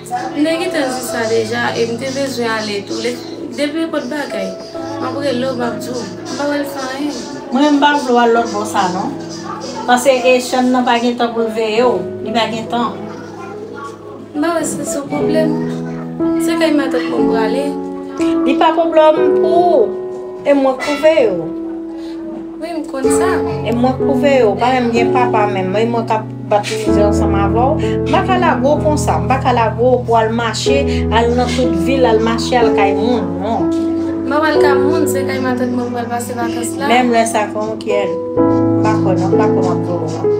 M te gentan di sa deja e m te bezwen ale tou lè depi enpòt bagay m ap rele w m ap di w m pa wè l fè anyen. Mwen m pa vle w al lòt bò sa non pase Echann nan pa gen tan pou l veye w li pa gen tan. M pa wè sa se yon pwoblèm se kay matant mwen m prale. Li pa pwoblòm pou ou e mwen k pou veye w. Wi m konn sa. E mwen pwouve yo, ou pa menm gen papa menm, e mwen kap bat mizè ansanm avèw, m pa ka lage w konsa, m pa ka lage w pou al mache, al nan tout vil, al mache al kay moun, non. M pa pral kay moun, se kay matant mwen pral pase vakans la. Menm lè sa fè yon kyèl, m pa kwè non, m pa kwè map vòlò non.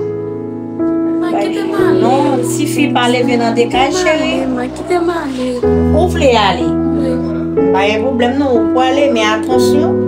Ma kite m ale. Non, ti fi pa leve nan de kay cheri. Ma kite m ale. Ou vle ale? Wi. Pa gen pwoblèm non, ou pwale men atansyon.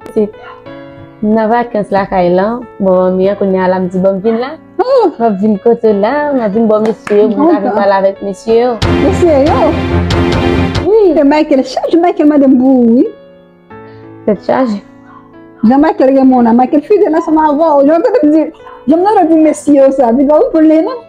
Pitit, m nan vakans lakay lan, bò manmi an, kounye a la m di bon m vin la. M ap vin kote w la, m ap vin bò mesye yo pou m ta vin pale avèk mesye yo. Mesye yo? Wi. Tè Michael chaje, Michael mande m pou ou wi. Tèt chaje. Jan Michael renmen w la, Michael fidèl ansanm avè w. Jan w tande m di, jan m tande w di mesye yo sa, li pa ou vle non.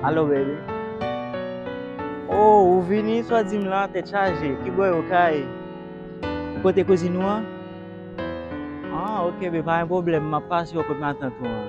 Alo baby Oh ou vini swa di m lan tèt chaje ki bò yo kay Kote kouzin ou an Ah ok baby pa gen pwoblèm m ap pase yo kot matant ou an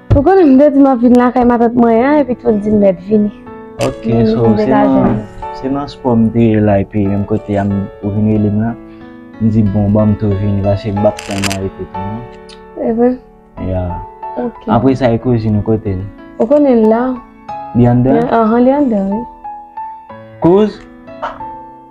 Ou konnen m te di map vin lakay matant mwen an epi tou l di m mèt vini. Ok so se nan se nan spò m te ye la epi menm kote a ou vin rele m la. M di bon banm tou vini paske m pap tèlman rete tou non. E vre? Ya. Ok. Apre sa e kouzin ou kote l? Ou konnen l la. Li anndan? Anhan li anndan wi. Kouz?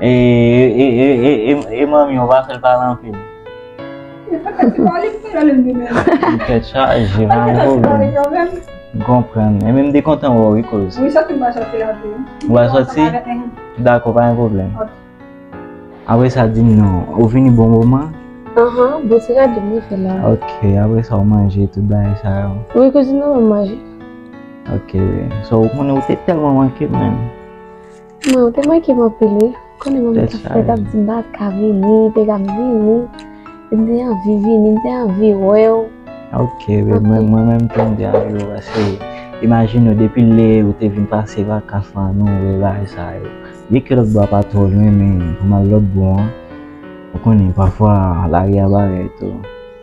E manmi ou pa fèl pale anpil. Li pa ka di pa li pou lèl li menm. Li tèt chaje pa gen pwoblèm. M konprann. Enben m te kontan wè w wi kouz. Wi sòti m pral sòti la tou. Ou pral sòti? Dakò pa gen pwoblèm. Apre sa di m non, ou vini bon moman? Aha, bon se gade m nan fè la. Ok, apre sa ou manje tout bagay sa yo? Wi kouzin nan m manje. Ok, sou ou konnen ou te tèlman manke m menm. Mwen ou te manke m anpil wi. Konnen mwen ta fè tap di mpa ka vini, te ka vini. M te anvi vini, m te anvi wèw. Ok babe, mwen menm tou m te anvi wèw paske imajine ou depi lè ou te vin pase vakans lan nou wè bagay sa yo. Byen ke lòtbò a pa twò lwen men pou m al lòtbò an ou konnen pafwa lari a bagay tou.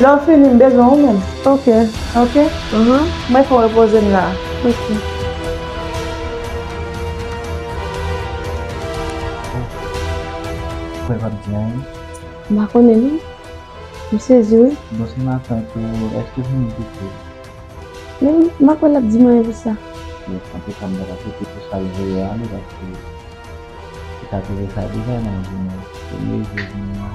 Lè w fini m bezwen ou menm. Ok. Ok? Mwen fon repoze m la. Ok. Mwen pap di anyen. M pa konnen non. M sezi wi. Bon se maten tou, eske w fini piti? Men m pa kwè l ap di m anyen pou sa. Bon, antouka m pa ta piti pou sa l vle yo ale paske li ta te fè sa deja nan jounen premye jou vini an.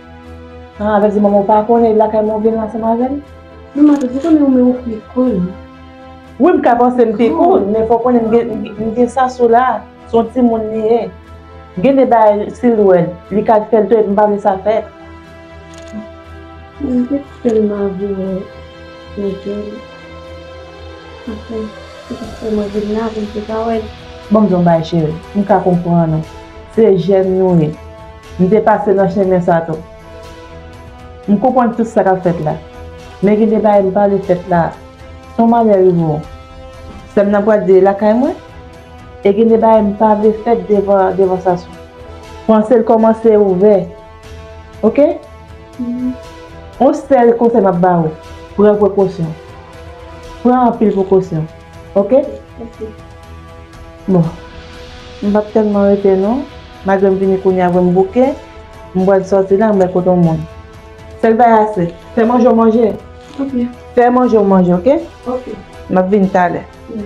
Sa vle di manman w pa konnen lakay mwen w vin ansanm avè l? Non ma tout, m konnen w men ou pi konn. Wi m ka panse m pi konn men fò w konnen m gen Sasou la, s on timoun li ye. Gen de bagay si l wè l, li ka fè l tou epi m pa vle sa fèt. M te tèlman vle wè Miguel. Anfen, se sak fè mwen vin la pou m te ka wè l. Ban m di w yon bagay cheri, m ka konprann ou. Se jèn nou ye. M te pase nan chemen sa tou. M konprann tout sa k ap fèt la. Men gen de bagay m pa vle fèt la a. Si yon malè rive w, sè m nan pral di l lakay mwen? E gen de bagay m pa vle fèt devan Sassou. Panse l kòmanse ouvè. Ok? Yon sèl konsèy m ap ba ou, pran prekosyon. Pran anpil prekosyon. Ok? Bon. M pap tèlman rete non. Malgre m vini kounye a vre m bouke, m pral sòti la m bay kote yon moun. Sèl bagay a se, fè manje w manje. Ok. Fè manje w manje ok. Ok. M ap vini talè. Wi.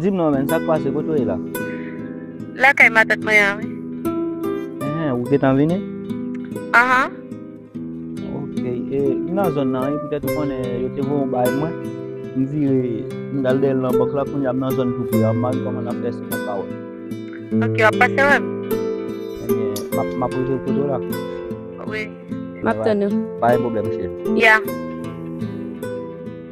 Dim non menn sak pase kote w ye la. Lakay matant mwen an wi. Enhen ou gentan vini? Anhan. Ok e m nan zòn nan wi poutèt ou konnen yo te voye w bay mwen m vire m tal dèyè l nan bank la kounya m nan zòn tou pre a m pa gen kòman nan fè si m pap ka wè l. Ok wap pase wè m? Enben map rive l kote w la. Wi. Map tann ou. Pa gen pwoblèm cheri. Ya.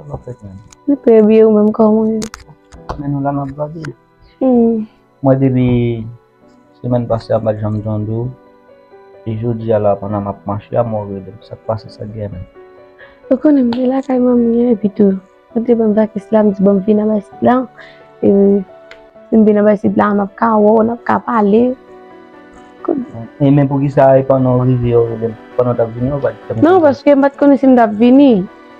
Mwen pè bye ou menm kòman ou ye? Mwen nou la map gade. Mwen depi semèn pase a mpat janm tande ou. E jodi a la pandan map mache a mwen rele m. Sak pase sak gen menm? Ou konnen m te lakay manmi an epi tou ou te banm vakans la m di banm vin anba isit la. E sim vin anba isit la map ka wè w, nap ka pale. E men poukisa e pandan ou rive ou rele m? Pandan w tap vini ou pat di m? Non paske m pat konnen si m tap vini.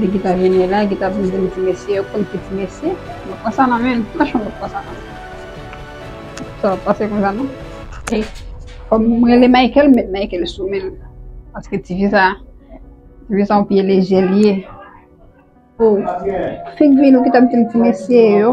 Li ki ta vini la, ki ta vin di m ti mesye yo konn ki ti mesye. Mwen pran sa nan men, franchman mwen pran sa nan men. Sa va pase kon sa non. E, fòm m rele Michael, m met Michael sou men l. Paske ti fi sa, ti fi sa yon pye lejè li ye. O, figi nou ki ta di m ti mesye yo.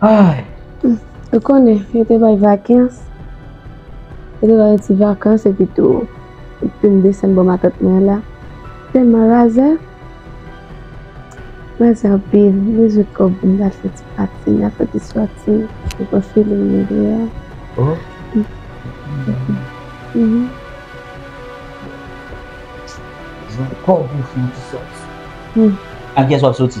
Ay! Ou konnen, yo te bay vakans, yo te bay yon ti vakans epi tou, yo te vin desann bò matant mwen la. Tèlman razè, razè anpil, m bezwen kòb pou m ta al fè ti pati, nan fè ti sòti, m pran feeling mwen deyò. Oh! Mwen bezwen kòb pou m fè yon ti sòti. Ak kiyès w ap sòti?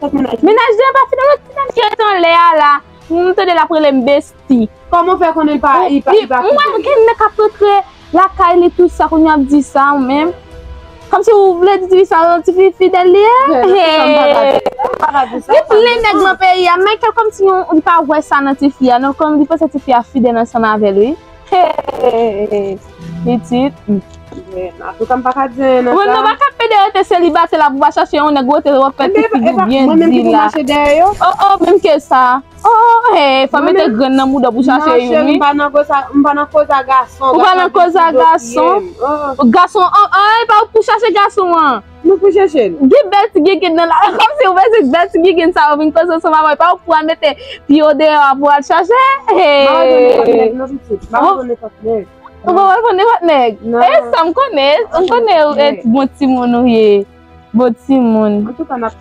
Kot menaj li? Menaj li an pa fidèl ok menaj li ret anlè a la. M tande lap rele m besti. Kòman w fè konnen li pa fidèl? M wè gen nèg kap rantre lakay li tout sa kounya wap di sa ou menm. Kòmsi ou vle di tifi sa yon tifi fidèl li ye? Gen plen nèg nan peyi a Michael kòmsi li pa wè sa nan tifi a non, li panse tifi a fidèl ansanm avèl wi. Pitit Antouka m paka di anyen nan sa Mwen nan baka pede yo te selibate la pou ba chache yon nèg wote wap fè ti figou byen di la O o menm ke sa O o hey fò mete grenn nan mouda pou chache yon wi Nan cheri m pa nan koza m pa nan koza gason Ou pa nan koza gason Gason an epa ou pou chache gason an. Nou pou chèche l. Gen bèl ti gengen nan la. Komsi ou panse bèl ti gengen sa yo vin koze w sou maman e pa ou ki pou al mete pye w deyò a pou al chache? Maman jwenn nenpòt nèg non pitit. Maman jwenn nenpòt nèg. Ou pa pral pran nenpòt nèg? Non. E sa m konnen. M konnen ou e bon timoun ou ye. Bon timoun. Antouka n ap.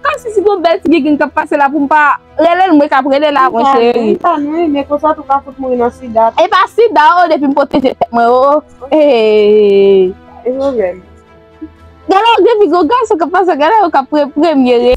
Kom si si pou bel ti gigin kap pase la pou m pa rele l mwen kap rele la mwen cheri. Mwen pa nwi men konsa tou pa fout mouri nan sida. E pa sida o depi m pwoteje tèt mwen o. Eeeeey. E yo menm. Gade yon depi gon gason kap pase gade yon kap pre premye re.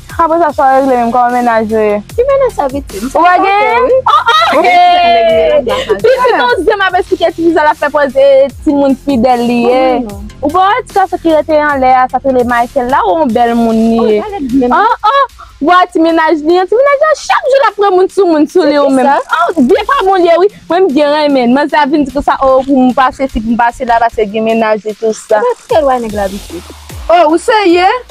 Apre sa sa regle menm koman mennaj yo ye. Ki mennaj sa viktim? Ou pa gen? Pitit on zen map esplike ti viza lap fè pòz e timoun fidèl li ye. Ou pa wè ti gason ki rete anlè a sa t rele Michael la ou on bèl moun li ye. Ou a ti mennaj li an ti mennaj lan chak jou lap pran moun sou moun sou li ou menm. Vye pa bon li ye wi mwen m byen renmenn. Manzè a vin di konsa oh pou m pase si pou m pase la pase gen mennaj li tout sa. Ou pa t fè lwa nèg la visye. Oh ou serye?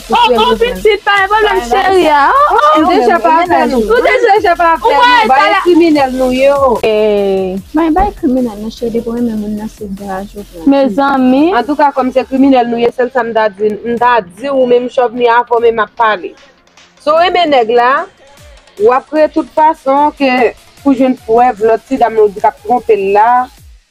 Ou prè pou vin. Nou deja pa afè nou. Nou deja pa afè nou. Bay kriminèl nou ye o. Mwen bay kriminèl nou cheri depi w renmen moun nan se graj ou pran. Mezanmi. Antouka kòm se kriminèl nou ye sèl sa m ta di m ta di ou menm chòvni a fò men m ap pale. Si w renmen nèg la w ap kreye tout fason ke pou jwenn prèv lòt ti dam ou di k ap twonpe l la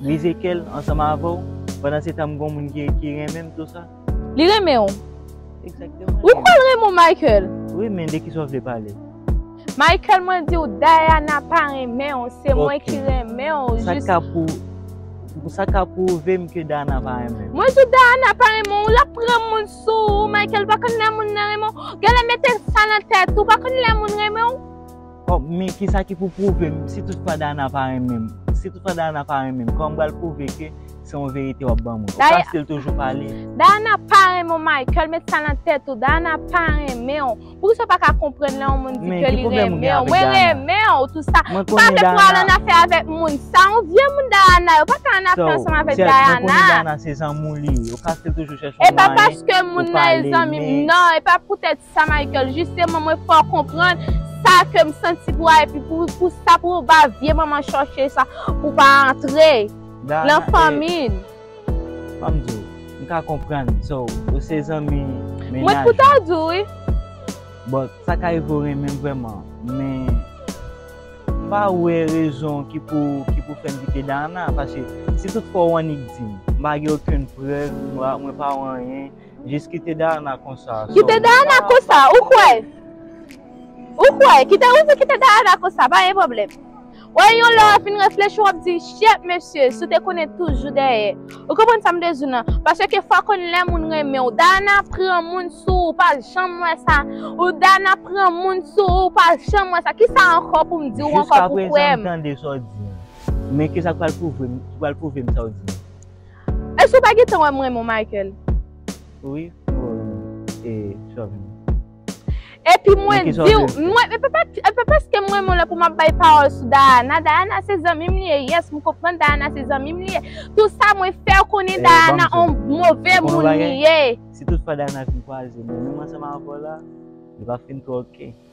Mize kèl ansanm avèw pandan se tanm gon moun ki renmenm tou sa. Li renmen w. Exactement. Ou kwèl renmen w Michael. Wi men de kisa w vle pale. Michael mwen diw Diana pa renmen w se mwen ki renmen w jis. Sak ka pou Sak ka pwouvem ke Diana pa renmen m. Mwen diw Diana pa renmen w lap pran moun sou ou Michael ou pa konn lè moun nan renmen w. Genlè mete sa nan tèt ou ou pa konn lè moun renmen w. Kòm men kisa ki pou pwouve m si tout fwa Dayana pa renmen m. Si tout fwa Dayana pa renmen m, kòman m pral pwouve ke se yon verite w ap ban mwen. Ou fasil toujou pale. Dayana pa renmen w Michael, met sa nan tèt ou. Dayana pa renmen w. Poukisa w pa ka konprann lè yon moun di ke li renmen w. Mwen renmen w tout sa. Mwen konnen Dayana. Ou pa vle pou w al an afè avèk moun sa. Yon vye moun Dayana yo. Ou pa ka an afè ansanm avèk Dayana. Mwen konnen Dayana se zanmi w li ye. Ou fasil toujou chèche yon mwayen pou w pale. E pa paske moun nan e zanmi m nan. E pa poutèt. sa Michael jisteman mwen fè w konprann sa ke m santi pou a epi pou sa pou w ba vye manman chòche sa pou w pa antre nan fanmi n. Fò m di w m ka konprann so ou se zanmi mennaj mwen pou ta di w wi bon sa ka rive w renmen m vrèman men m pa wè rezon ki pou fè m kite Dana paske si tout fwa w annik di m m pa gen okenn prèv mwen pa wè anyen. Jis kite Dayana konsa. Kite Dayana konsa ou kwè? Ou kwè? Kite ou di kite Dayana konsa pa gen pwoblèm. Wè yon lè wap fin reflechi wap di shyet mesye si w te konnen toujou dèyè. Ou konprann sa m vle di nan? Paske ke fwa konn lè moun renmen w. Dayana pran moun sou ou pa janm wè sa. Ou Dayana pran moun sou ou pa janm wè sa. Kisa ankò pou m di w ankò pou kwè m? Jiska prezan m tande sa w di an. Men kisa k pral pwouve m sa w di an? Èske ou pa gentan wè m renmen w Michael? Wi Corinne e Shovni. Epi mwen di w, mwen, epi paske m renmen w lè pou m ap bay pawòl sou Dayana, Dayana se zanmi m li ye, yes m konprann Dayana se zanmi m li ye, tou sa mwen fè w konnen Dayana on move moun li ye. Si tout fwa Dayana fin kwaze mwen, menm ansanm avè w la, li pa fin twò ok.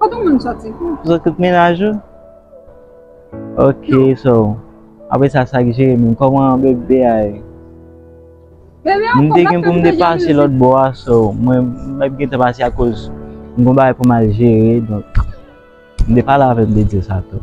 Kote moun soti tou? Sou tout menaj ou? Ok so apre sa sak jere menm koman bebe a ye? Bebe a fò map tann de jan mizik. Lòt bò a so mwen map gentan pase akoz m gon bagay pou mal jere donk m de pale avèm m de dil sa tou.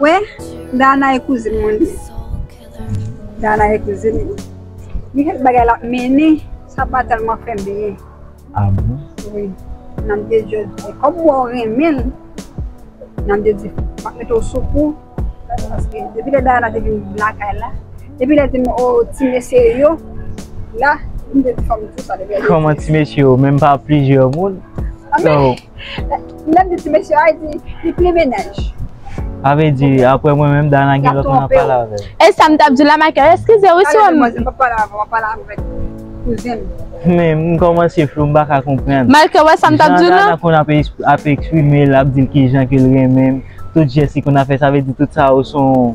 Wè Dana e kouzin mwen li. Dana e kouzin li. Gen kèk bagay lap mennen sa pa tèlman fèm byen. A bon? Wi. Namde di kòm m wè w renmen l, Namde di map mete w sou kou paske depi lè Dana te vin lakay la, depi lè l di m o ti mesye yo la, m te di fòk m di w sa depi lè l di. Kòman ti mesye yo menm pa plizyè moun? Anmè! Li menm di ti mesye a, li di, li plen mennaj. Sa vle di, apre mwen menm, Dana gen lòt moun ap pale avè l. E sa m t ap di w la, Michael? Eskize wi si w. Mwen pa pale avè w, mwen pale avèk kouzen m. Men, m kòmanse flou, m pa ka konprann. Michael, wè sa m t ap di w la? Jan Dana konn ap eksprime l, ap di l kijan ke l renmen m, tout jès li konn ap fè, sa vle di tout sa yo s on.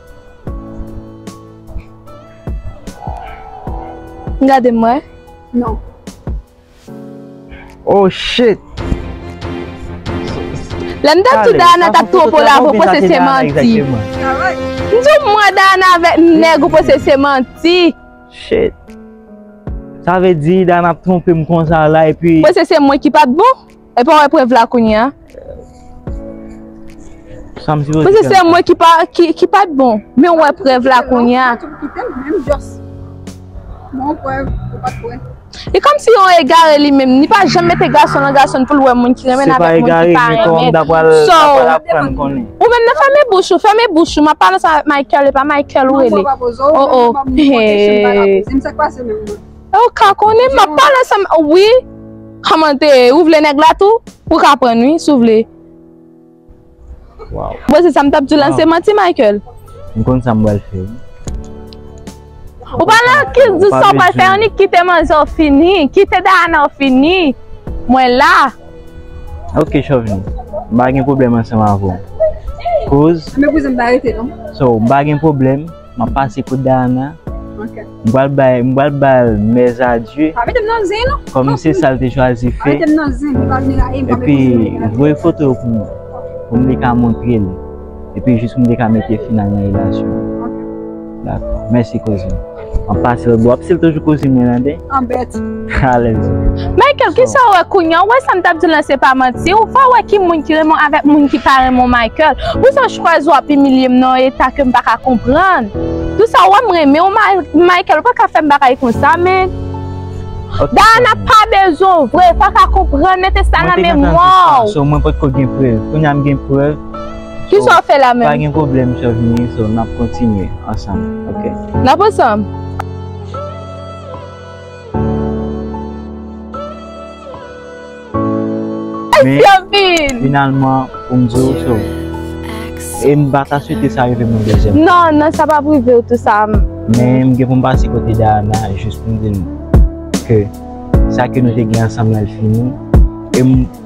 Gade m wè non. Oh shit. Lè m tap di w Dayana tap twop ou love ou panse se manti. M di w mwen Dayana avèk m nèg ou panse se manti. Shit. Sa vle di Dayana ap twonpe m konsa la epi. Ou panse se mwen ki pat bon? Epi wè prèv la kounye a. Sam sipoze fè. Pase se mwen ki pa ki pat bon. Men wè prèv la kounye a. Bon prèv ou pat wè. E kom si yon egare li menm. Li pa janm mete gason nan gason pou l wè moun ki renmen l avèk moun ki pa renmen. Se pa egare men kon m dapwa l apran m konnen. Ou menm nan fèmen bouch ou, fèmen bouch ou. M ap pale sa avèk Michael e pa Michael ou rele. Oh oh. Eee. E ou ka konnen map pale sa m wi Kòmante ou vle nèg la tou ou ka prann wi si w vle Bon se sa m tap di w lan se manti Michael M konn sa m pral fè wi Ou pa nan ki di sa w pral fè annik kite manzè w fini kite Dayana w fini Mwen la Ok chòvni m pa gen pwoblèm ansanm avè w koz Sa w m pa gen pwoblèm. Map pase kot Dayana. Ok. M pral bay, m pral bal mes adieux. Pa mete m nan zen non. Kom se sal te chwazi fe. Pa mete m nan zen, li pa vini la e m pa mete m nan zen. Epi voye foto yo pou mwen. Pou m te ka montre l. Epi jis pou m te ka mete final nan relasyon an. Ok. Dako. Mèsi kouzin. Map pase l. Wap pase l toujou kouzin mwen an de. An bèt. Alèz. Michael, ki sa ou wè kounye an? Ou wè sa m t ap di w lan se pa manti? Ou fè w wè ki moun ki renmen w avèk moun ki pa renmen w Michael. Pou sa w chwazi w ap imilye m nan yon eta ke m pa ka konprann. Pou sa ou wè m renmen w Michael, ou pa ka fè m bagay konsa men. Dayana pa bezwen w vre, ou pa ka konprann, mete sa nan memwa w. Sou mwen pot ko gen prèv, kounye a m gen prèv. Ki sa w fè la menm? Pa gen pwoblèm chòv ni, sou n ap kontinye ansanm, ok? N ap ansanm? Men, finalman, pou m di ou so, e m pa ta swete sa rive m yon dezyèm fwa. Non, non, sa pa pou rive ou tou sa. Men, m gen pou m pase kote Dayana, jis pou m di l ke sa ke nou te gen ansanm lan l fini.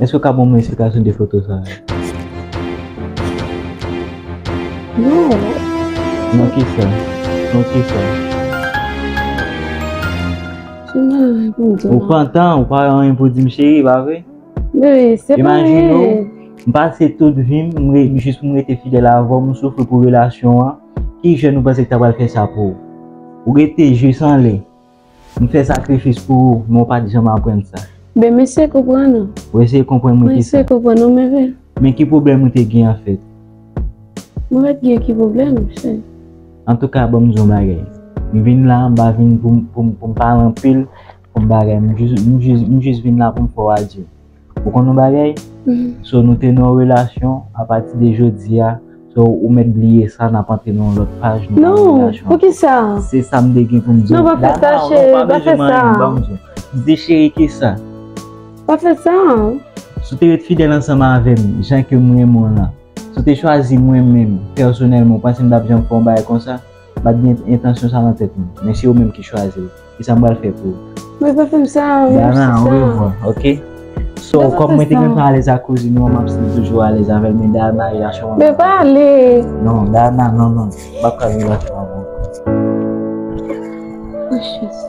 Eske ou ka ban mwen esplikasyon de foto sa yo? Nan ki sa? Nan ki sa? Ou pantan, ou pa gen anyen pou di m cheri, pa vre? Imajine ou, m pase tout vi m, m rete jis pou m rete fidèl avè w, m soufri pou relasyon an, ki jèn ou panse ki ta pral fè sa pou ou? Ou rete jis anlè. M fè sakrifis pou ou, men ou pa t janm aprann sa. Ben m eseye konprann ou. Ou eseye konprann mwen ki sa? Mwen eseye konprann ou men ben. Men ki pwoblèm ou te gen anfèt? Mwen pa t gen ki pwoblèm, cheri. Antouka ban m di yon bagay. M vin la, m pa vin pou m pale anpil, pou m bagay. M jis vin la pou m fè w adye. Ou konn yon bagay? So nou te nan yon relasyon, apati de jodi a, so ou mèt bliye sa, n ap antre nan yon lòt paj. Non, poukisa? Se sa m te gen pou m di w. Non, pa fè sa cheri, pa fè sa. M di cheri ki sa? Pa fè sa. Si w te ret fidèl ansanm avè m, jan ke m renmen w lan, si w te chwazi mwen menm, pèsonèlman, ou panse m t ap janm fè yon bagay konsa? Mpa t gen entansyon sa nan tèt mwen, men se ou menm ki chwazi l, kisa m pral fè pou ou? Mwen pa fèm sa, ou menm sa. Dana, orevwa, ok. So, kòm mwen te gen tan alèz ak kouzin ou an, map stil toujou alèz avèl, men Dana, e a chwa. Men pa ale! Non, Dana, non, non, mpa pral viv ak yon moun konsa. O Jezi!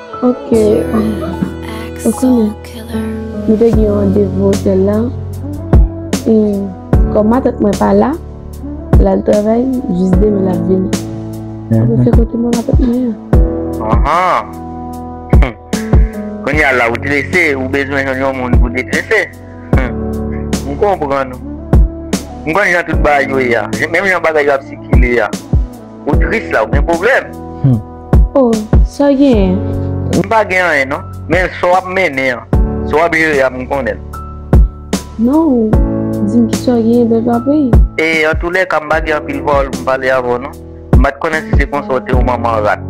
Ok, ou konnen, mwen te gen yon randevou otèl la, e kòm matant mwen pa la, lal travay, jis demen lap vini. Mwen mhm. fè kote mwen matant mwen ya. Ahan, konnen ya la ou trese, ou bezwen yon yon moun pou detrese. Mwen konpran nou. Mwen konnen jan tout bagay yo ya, menm jan bagay yo ap sikile ya. Ou tris la ou gen problem. Humm oh saw genyen. M pa gen anyen non men sa w ap mennen an sa w ap jere a m konnen l. Non ou di m kisa w genyen bèl papiy. E antoulèka m pa gen anpil pawòl pou m pale avè w non. M pa t konnen si se konsa w te yon manman rat.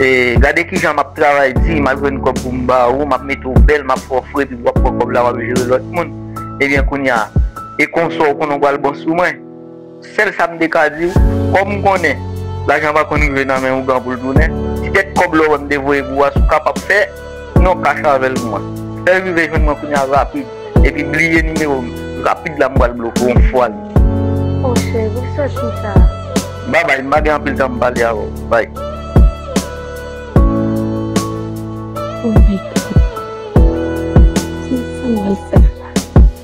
E gade kijan m ap travay di m ap jwenn kòb pou m ba ou m ap mete w bèl m ap fè w fre epi w ap pran kòb la w ap jere lòt moun. Ebyen kounya e konsa w konnen w pral bon sou mwen. Sèl sa m te ka di w, kòm m konnen lajan pa konn rive nan men ougan pou l tounen, ti kèk kòb lòwèm m te voye pou w a si w kapab fè non kach avè l pou mwen. Fè l rive jwenn mwen kounye a rapid, epi bliye nimewo m, rapid la m pral bloke w yon fwa li ye. O cheri, ou sòt konsa a? Babay, m pa gen anpil tan pou m pale avè w. Bay. O my God! Kisa m pral fè la?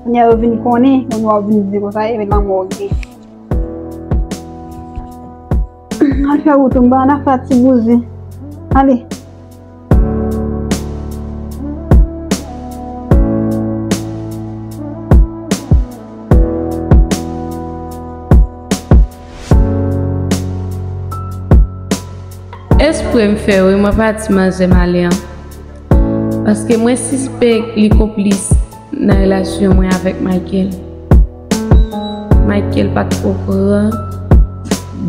Kounye a yo vin konnen, moun wap vin di konsa e men lanmò gen. An fè wout mba an a fè ti bouzi. Ale. Espre m fè wi mwen pa di manzè m ale an. Paske mwen sispèk li konplis. Nan relasyon mwen avèk Michael. Michael pat okran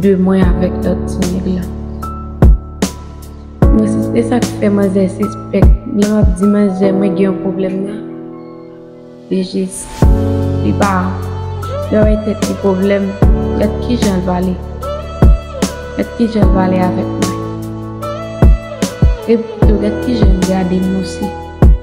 de mwen avèk lòt ti nèg la. Mwen se se sak fè manzè sispèk lè map di manzè mwen gen yon pwoblèm nan. Li jis li pa li pa bay tèt li pwoblèm. Gad kijan l pale. Gad kijan l pale avèk mwen. Epi tou gad kijan l gade m osi.